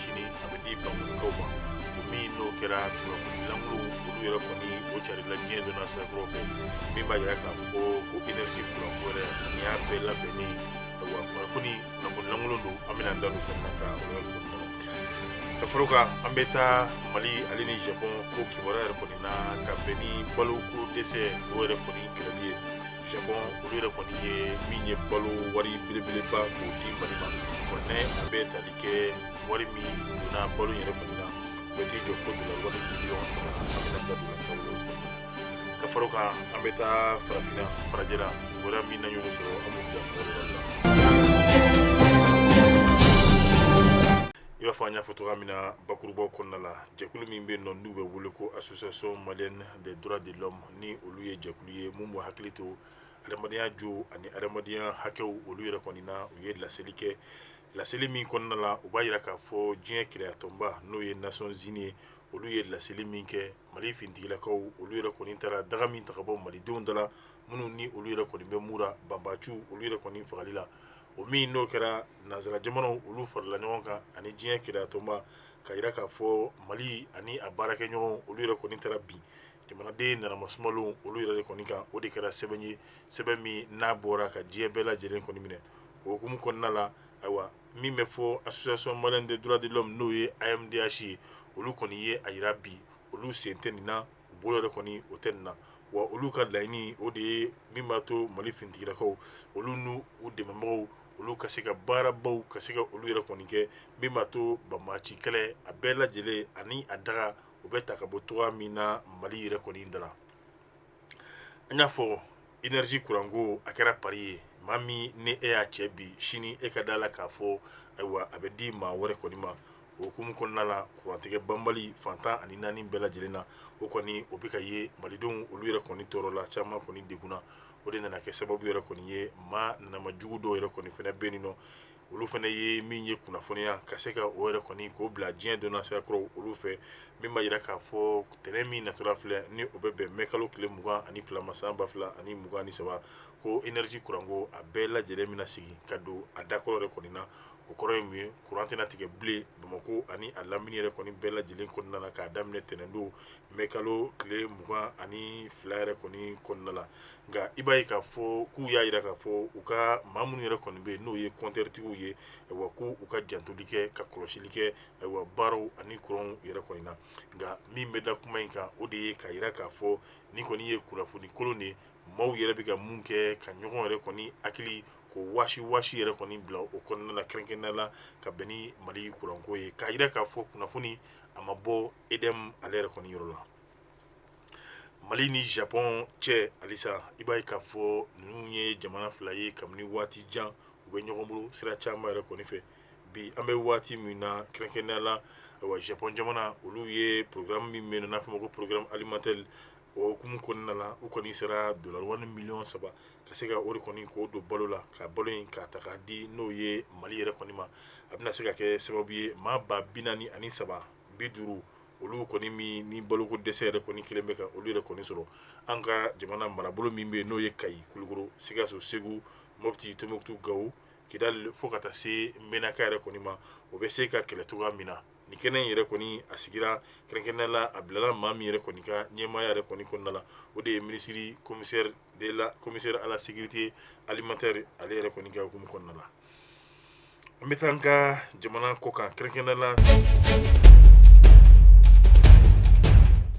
sini a bɛ di bankɔnikaw ma o min n'o kɛra kunnafoni lankolon olu yɛrɛ kɔni o carila diɲɛ donna sira kura fɛ min b'a jira k'a fɔ ko energie kuranko yɛrɛ nin y'a bɛɛ labɛnnen wa kunnafoni lankolon don an bɛna da don fɛn na ka o yɔrɔ ninnu kɔnɔna la ka fara o kan an bɛ taa mali ale ni japon ko kibaruya yɛrɛ kɔni na ka bɛn ni baloko dɛsɛ o yɛrɛ kɔni kɛlɛli ye Japon olu yɛrɛ kɔni ye min ye balo wari belebeleba k'o di Mali ma bon ni a bɛ tali kɛ wari min donna balo yɛrɛ kɔni na o bɛ t'i jɔ fo dollars wari miliyɔn saba an bɛna da don fɛn wɛrɛw kɔnɔ ka fara o kan an bɛ taa farafinna farajɛla kibaruya min na ɲɔgɔn sɔrɔ an b'o da o yɔrɔ la i b'a fɔ an y'a fɔ cogoya min na bakurubaw kɔnɔna la jɛkulu min bɛ yen nɔ n'u bɛ wele ko association malienne des droits de l'homme ni olu ye jɛkulu ye minnu b'u hakili to adamadenya jo ani adamadenya hakɛw olu yɛrɛ kɔni na u ye laseli kɛ laseli min kɔnɔna la u b'a jira k'a fɔ diɲɛ kelenyatɔnba n'o ye Nations Unies ye olu ye laseli min kɛ mali finitigilakaw olu yɛrɛ kɔni taara daga min ta ka bɔ malidenw da la minnu ni olu yɛrɛ kɔni bɛ muru banbaaciw olu yɛrɛ kɔni fagali la o min n'o kɛra nansara jamanaw olu farala ɲɔgɔn kan ani diɲɛ kelenyatɔnba k'a jira k'a fɔ mali ani a baarakɛɲɔgɔn olu yɛrɛ kɔni taara bin jamanaden nanamasumalenw olu yɛrɛ de kɔni kan o de kɛra sɛbɛn ye sɛbɛn min n'a bɔra ka diɲɛ bɛɛ lajɛlen kɔni minɛ o hukumu kɔnɔna la ayiwa min bɛ fɔ association malienne des droits de l'homme n'o ye AMDH ye olu kɔni ye a jira bi olu sen tɛ nin na u bolo yɛrɛ kɔni o tɛ nin na wa olu ka laɲini o de ye min b'a to mali finitigilakaw olu n'u dɛmɛbagaw olu ka se ka baarabaw ka se ka olu yɛrɛ kɔni kɛ min b'a to banbaaci kɛlɛ a bɛɛ lajɛlen ani a daga u bɛ ta ka bɔ cogoya min na mali yɛrɛ kɔni da la an y'a fɔ energie kuranko a kɛra pari ye maa min ni e y'a cɛ bi sini e ka da la k'a fɔ ayiwa a bɛ di maa wɛrɛ kɔni ma o hukumu kɔnɔna la kurantigɛ banbali fan tan ani naani bɛɛ lajɛlen na o kɔni o bɛ ka ye malidenw olu yɛrɛ kɔni tɔɔrɔ la caman kɔni degunna o de nana kɛ sababu yɛrɛ kɔni ye maa nanama jugu dɔw yɛrɛ kɔni fana bɛ nin nɔ olu fana ye min ye kunnafoniya ka se ka o yɛrɛ kɔni k'o bila diɲɛ donna sira kura olu fɛ min b'a jira k'a fɔ tɛnɛn min natɔla filɛ ni o bɛ bɛn mɛ kalo tile mugan ani fila ma san ba fila ani mugan ni saba ko energie kuranko a bɛɛ lajɛlen bɛna sigi ka don a dakɔrɔ yɛrɛ kɔni na o kɔrɔ ye mun ye kuran tɛna tigɛ bilen bamakɔ ani a lamini yɛrɛ kɔni bɛɛ lajɛlen kɔnɔna la k'a daminɛ tɛnɛndon mɛ kalo tile mugan ani fila yɛrɛ kɔni kɔnɔna la nka i b'a ye k'a fɔ k'u y'a jira k'a fɔ u ka maa minnu yɛrɛ kɔni bɛ yen n'o ye kɔntɛritigiw ye ayiwa ko u ka jantoli kɛ ka kɔlɔsili kɛ ayiwa baaraw ani kuranw yɛrɛ kɔni na nka min bɛ da kuma in kan o de ye k'a jira k'a fɔ ni kɔni ye kunnafoni kolon de maaw yɛrɛ bɛ ka mun kɛ ka ɲɔgɔn yɛrɛ kɔni hakili ko waasi waasi yɛrɛ kɔni bila o kɔnɔna na kɛrɛnkɛrɛnnenya la ka bɛn ni mali kuranko ye k'a jira k'a fɔ kunnafoni a ma bɔ EDM ale yɛrɛ kɔni yɔrɔ la mali ni japɔn cɛ halisa i b'a ye k'a fɔ ninnu ye jamana fila ye kabini waati jan u bɛ ɲɔgɔn bolo sira caman yɛrɛ kɔni fɛ bi an bɛ waati min na kɛrɛnkɛrɛnnenya la ayiwa japɔn jamana olu ye programme min bɛ yen n'a bɛ f'o ma ko programme alimentaire o hukumu kɔnɔna na u kɔni sera dollar wari miliyɔn saba ka se ka o de kɔni k'o don balo la ka balo in k'a ta k'a di n'o ye mali yɛrɛ kɔni ma a bɛna se ka kɛ sababu ye maa ba bi naani ani saba bi duuru olu kɔni min ni baloko dɛsɛ yɛrɛ kɔni kelen bɛ ka olu yɛrɛ kɔni sɔrɔ an ka jamana marabolo min bɛ n'o ye kayi kulukɔrɔ sikaso segu mɔpti tɔmbukutu gawo kidali fo ka taa se menaka yɛrɛ kɔni ma o bɛ se ka kɛlɛ cogoya min na ni kɛnɛ in yɛrɛ kɔni a sigira kɛrɛnkɛrɛnnenya la a bilala maa min yɛrɛ kɔni ka ɲɛmaaya yɛrɛ kɔni kɔnɔna la o de ye minisiri commissaire de la commissaire à la sécurité alimentaire ale yɛrɛ kɔni ka hukumu kɔnɔna la An bɛ taa an ka jamana kɔ kan kɛrɛnkɛrɛnnenya la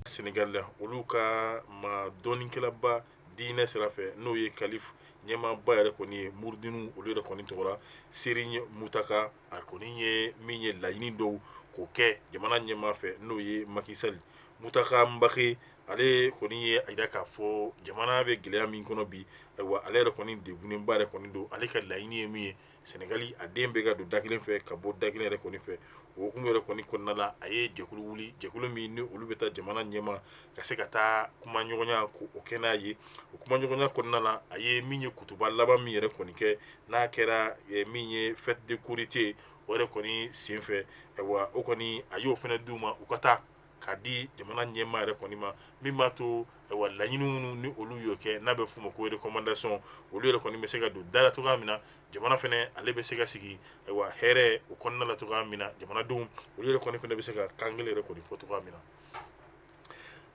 sɛnɛgali la olu ka maa dɔnnikɛlaba diinɛ sira fɛ n'o ye kalifa ɲɛmaaba yɛrɛ kɔni ye murudi ninnu olu yɛrɛ kɔni tɔgɔ la seriɲi mutaka a kɔni ye min ye laɲini dɔw k'o kɛ jamana ɲɛmaa fɛ n'o ye maki sali mutaka mbake ale kɔni ye a jira k'a fɔ jamana bɛ gɛlɛya min kɔnɔ bi ayiwa ale yɛrɛ kɔni degunenba yɛrɛ kɔni don ale ka laɲini ye min ye sɛnɛgali a den bɛɛ ka don da kelen fɛ ka bɔ da kelen yɛrɛ kɔni fɛ o hukumu yɛrɛ kɔni kɔnɔna la a ye jɛkulu wuli jɛkulu min ni olu bɛ taa jamana ɲɛmaa ka se ka taa kumaɲɔgɔnya k'o kɛ n'a ye o kumaɲɔgɔnya kɔnɔna la a ye min ye kutuba laban min yɛrɛ kɔni kɛ n'a kɛra eh, min ye fête de korité o yɛrɛ kɔni senfɛ ayiwa o kɔni a y'o fana d'u ma u ka taa k'a di jamana ɲɛmaa yɛrɛ kɔni ma min b'a to ayiwa laɲini minnu ni olu y'o kɛ n'a bɛ f'o ma ko recommandation olu yɛrɛ kɔni bɛ se ka don da la cogoya min na jamana fana ale bɛ se ka sigi ayiwa hɛrɛ o kɔnɔna la cogoya min na jamanadenw olu yɛrɛ kɔni fana bɛ se ka kan kelen yɛrɛ kɔni fɔ cogoya min na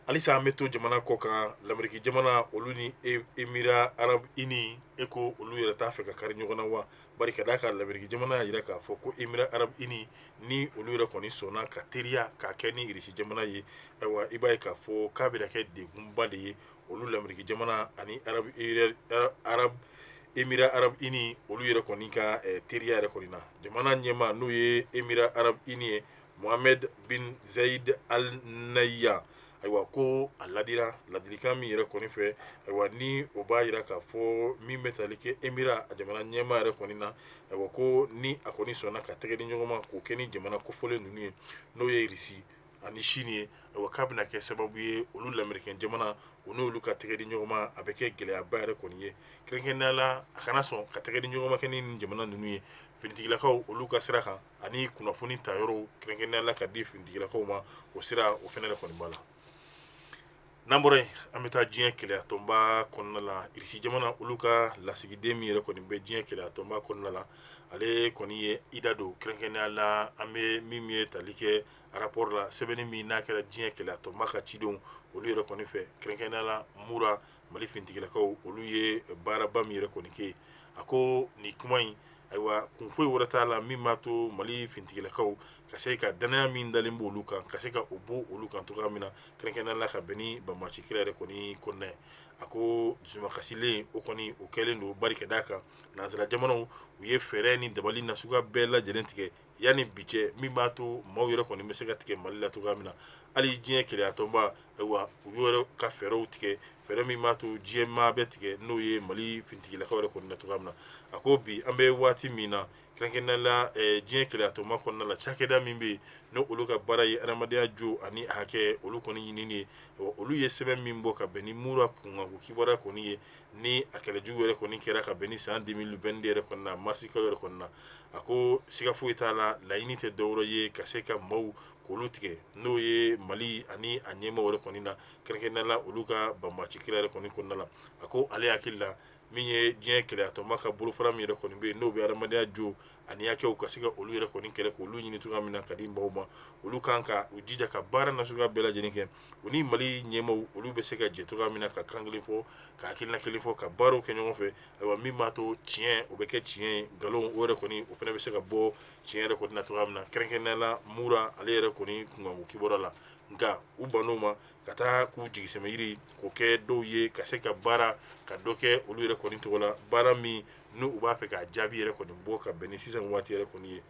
halisa an bɛ to jamana kɔ kan lameriki jamana olu ni emira arabu ini e ko olu yɛrɛ t'a fɛ ka kari ɲɔgɔn na wa bari ka d'a kan lameriki jamana y'a jira k'a fɔ ko emira arabu ini ni olu yɛrɛ kɔni sɔnna ka teriya k'a kɛ ni irisi jamana ye ayiwa i b'a ye k'a fɔ k'a bɛna kɛ degunba de ye olu lameriki jamana ani arabu erɛ ara arabu emira arabu ini olu yɛrɛ kɔni ka eh, teriya yɛrɛ kɔni na jamana ɲɛmaa n'o ye emira arabu ini ye mohamed bin zayed al nahyan ayiwa ko a ladira ladilikan min yɛrɛ kɔni fɛ ayiwa ni o b'a yira k'a fɔ min bɛ tali kɛ émirats a jamana ɲɛmaa yɛrɛ kɔni na ayiwa ko ni a kɔni sɔnna ka tɛgɛ di ɲɔgɔnma k'o kɛ ni jamana kofɔlen ninnu ye n'o ye irisi ani sini ye ayiwa k'a bɛna kɛ sababu ye olu lamerikɛn jamana u n'olu ka tɛgɛ di ɲɔgɔnma a bɛ kɛ gɛlɛyaba yɛrɛ kɔni ye kɛrɛnkɛrɛnnenya la a kana sɔn ka tɛgɛ di ɲɔgɔnma kɛ ni jamana ninnu ye finitigilakaw olu ka sira kan ani kunnafoni ta yɔrɔw kɛrɛnkɛrɛnnenya la ka di finitigilakaw ma o sira o fɛnɛ yɛrɛ kɔni b'a la n'an bɔra yen an bɛ taa diɲɛ kɛlɛyatɔnba kɔnɔna la irisi jamana olu ka lasigiden min yɛrɛ kɔni bɛ diɲɛ kɛlɛyatɔnba kɔnɔna la ale kɔni ye i da don kɛrɛnkɛrɛnnenya la an bɛ min ye tali kɛ rapport la sɛbɛnni min n'a kɛra diɲɛ kɛlɛyatɔnba ka cidenw olu yɛrɛ kɔni fɛ kɛrɛnkɛrɛnnenya la mura mali finitigilakaw olu ye baaraba min yɛrɛ kɔni kɛ a ko nin kuma in ayiwa kun foyi wɛrɛ t'a la min b'a to mali finitigilakaw ka se ka dannaya min dalen b'olu kan ka se ka o bɔ olu kan cogoya min na kɛrɛnkɛrɛnnenya la ka bɛn ni banbaci kɛlɛ yɛrɛ kɔni kɔnɔna ye a ko dusumakasilen o kɔni o kɛlen don bari ka d'a kan nansara jamanaw u ye fɛɛrɛ ni dabali na suguya bɛɛ lajɛlen tigɛ yanni bi cɛ min b'a to maaw yɛrɛ kɔni bɛ se ka tigɛ mali la cogoya min na hali diɲɛ kɛlɛyatɔnba ayiwa u y'o yɛrɛ ka fɛɛrɛw tigɛ fɛɛrɛ min b'a to diɲɛ maa bɛ tigɛ n'o ye mali fintigilakaw yɛrɛ kɔni na cogoya min na a ko bi an bɛ waati min na kɛrɛnkɛrɛnnenya la eh, diɲɛ kɛlɛyatɔnba kɔnɔna la cakɛda min bɛ yen n'o olu ka baara ye adamadenya jo ani hakɛ olu kɔni ɲinini ye Ayiwa, olu ye sɛbɛn min bɔ ka bɛn ni mura kunkanko kibaruya kɔni ye ni a kɛlɛjugu yɛrɛ kɔni kɛra ka bɛn ni san 2022 yɛrɛ kɔni na marisi kalo yɛrɛ kɔni na a ko siga foyi t'a la laɲini tɛ dɔwɛrɛ ye ka se ka maaw k'olu tigɛ n'o ye mali ani a ɲɛmaaw yɛrɛ kɔni na kɛrɛnkɛrɛnnenya la olu ka banbaci kɛlɛ yɛrɛ kɔni kɔnɔna la a ko ale hakili la min ye diɲɛ kɛlɛyatɔnba ka bolofara min yɛrɛ kɔni bɛ yen n'o bɛ adamadenya jo ani hakɛw ka se ka olu yɛrɛ kɔni kɛlɛ k'olu ɲini cogoya min na ka di maaw ma olu kan ka u jija ka baara na suguya bɛɛ lajɛlen kɛ u ni mali ɲɛmaaw olu bɛ se ka jɛ cogoya min na ka kan kelen fɔ ka hakilina kelen fɔ ka baaraw kɛ ɲɔgɔn fɛ ayiwa min b'a to tiɲɛ o bɛ kɛ tiɲɛ ye nkalon o yɛrɛ kɔni o fana bɛ se ka bɔ tiɲɛ yɛrɛ kɔni na cogoya min na kɛrɛnkɛrɛnnenya la mura ale yɛrɛ kɔni kunkanko kibaruya la nka u bann'o ma ka taa k'u jigisɛmɛyiri k'o kɛ dɔw ye ka se ka baara ka dɔ kɛ olu yɛrɛ kɔni tɔgɔ la baara min n'u b'a fɛ k'a jaabi yɛrɛ kɔni bɔ ka bɛn ni sisan waati yɛrɛ kɔni ye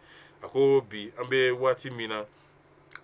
a ko bi an bɛ waati min na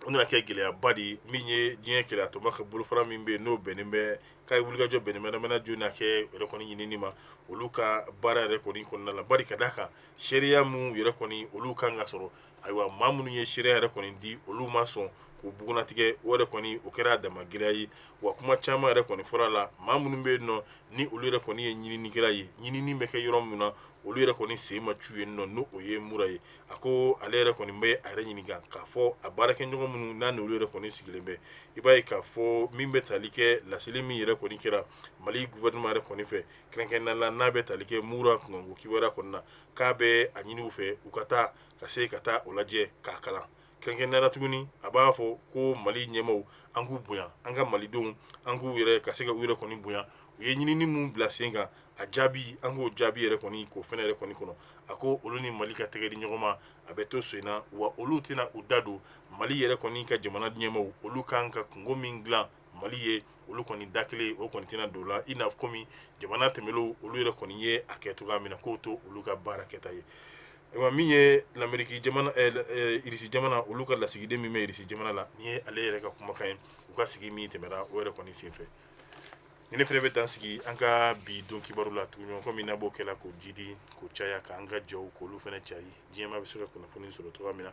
o nana kɛ gɛlɛyaba de ye min ye diɲɛ kɛlɛyatɔnba ka bolofara min bɛ yen n'o bɛnnen bɛ k'a ye wulikajɔ bɛnnen bɛ adamadenya jo ni hakɛ yɛrɛ kɔni ɲinini ma olu ka baara yɛrɛ kɔni kɔnɔna la bari ka d'a kan seereya min yɛrɛ kɔni olu kan ka sɔrɔ ayiwa maa minnu ye seereya yɛrɛ kɔni di olu ma sɔn k'u bugunnatigɛ o yɛrɛ kɔni o kɛra a dama gɛlɛya ye wa kuma caman yɛrɛ kɔni fɔra a la maa minnu bɛ yen nɔ ni olu yɛrɛ kɔni ye ɲininikɛla ye ɲinini bɛ kɛ yɔrɔ min na olu yɛrɛ kɔni sen ma cu yen nɔ n'o o ye mura ye a ko ale yɛrɛ kɔni bɛ a yɛrɛ ɲininka k'a fɔ a baarakɛɲɔgɔn minnu n'a n'olu yɛrɛ kɔni sigilen bɛ i b'a ye k'a fɔ min bɛ tali kɛ laseli min yɛrɛ kɔni kɛra mali gouvernement yɛrɛ kɔni fɛ kɛrɛnkɛrɛnnenya la n'a bɛ tali kɛ mura kunkanko kibaruya kɔni na k'a bɛ a ɲini u fɛ u ka taa ka se ka taa o lajɛ k'a kalan kɛrɛnkɛrɛnnenya la tuguni a b'a fɔ ko mali ɲɛmaaw an k'u bonya an ka malidenw an k'u yɛrɛ ka se ka u yɛrɛ kɔni bonya u ye ɲinini min bila sen kan a jaabi an k'o jaabi yɛrɛ kɔni k'o fɛnɛ yɛrɛ kɔni kɔnɔ a ko olu ni mali ka tɛgɛ di ɲɔgɔn ma a bɛ to sen na wa olu tɛna u da don mali yɛrɛ kɔni ka jamana ɲɛmaaw olu kan ka kunko min dilan mali ye olu kɔni da kelen o kɔni tɛna don o la i n'a kɔmi jamana tɛmɛlenw olu yɛrɛ kɔni ye a kɛ cogoya min na k'o to olu ka baara kɛta ye ayiwa min ye lameriki irisi jamana olu ka lasigiden min bɛ irisi jamana la nin ye ale yɛrɛ ka kumakan ye u ka sigi min tɛmɛra o yɛrɛ kɔni senfɛ ne fɛnɛ bɛ dan sigi an ka bi don kibaru la tuguɲɔgɔn min na b'o kɛla k'o jidi k'o caya k'an ka jɛw k'olu fɛnɛ cari diɲɛ maa bɛ se ka kunnafoni sɔrɔ cogoya min na